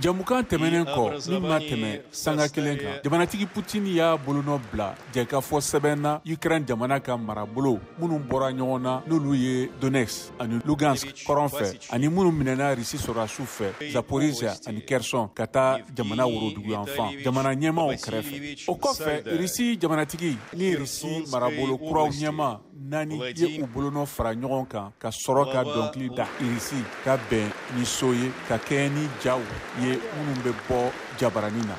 Jɛmukan tɛmɛnen kɔ min ma tɛmɛ sanga kelen kan jamanatigi Putin y'a bolonɔ bila jɛkafɔ sɛbɛn na Ukraine jamana ka marabolo minnu bɔra ɲɔgɔn na n'olu ye Donetsk ani Lugansk kɔrɔn fɛ ani minnu minɛna Russie sɔrɔdasiw fɛ Zaporizhia ani Kherson ka taa jamana woroduguyanfan jamana ɲɛmaaw kɛrɛfɛ o kɔfɛ Russie jamanatigi ni Russie marabolo kuraw ɲɛmaa naani ye u bolonɔ fara ɲɔgɔn kan ka sɔrɔ ka dɔnkili da irisi ka bɛn ni so ye ka kɛɲɛ ni jaw ye minnu bɛ bɔ jabarani na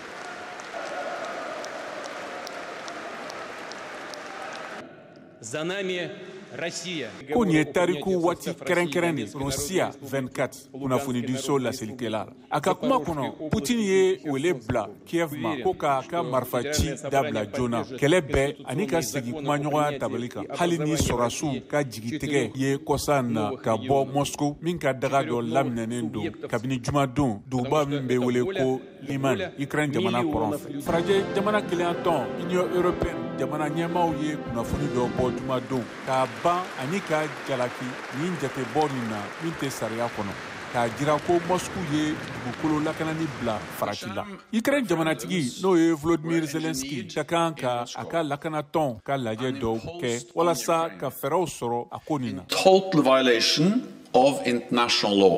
ko nin ye tariku waati kɛrɛnkɛrɛn de rosiya 24 kunnafonidiso laselikɛla a ka kuma kɔnɔ putin ye wele bila kiev ma ko k'a ka marifaci dabila joona kɛlɛ bɛɛ ani ka segin kumaɲɔgɔnya tabali kan hali ni sɔrɔdasiw ka jigitigɛ ye kɔsa in na ka bɔ moscou min ka daga dɔ laminɛnen don kabini jumadon duguba min bɛ wele ko liman ukraine jamana kɔrɔn fɛ farajɛ jamana kelenyatɔn union européenne jamana ɲɛmaaw ye kunnafoni dɔ bɔ jumadon k'a ban ani ka jalaki nin jatebɔ nin na min tɛ sariya kɔnɔ k'a jira ko moscou ye dugukolo lakanani bila farati la ukraine jamanatigi n'o ye volodimir zelenski ka kan ka a ka lakanatɔn ka lajɛ dɔw kɛ walasa ka fɛɛrɛw sɔrɔ a ko nin na total violation of international law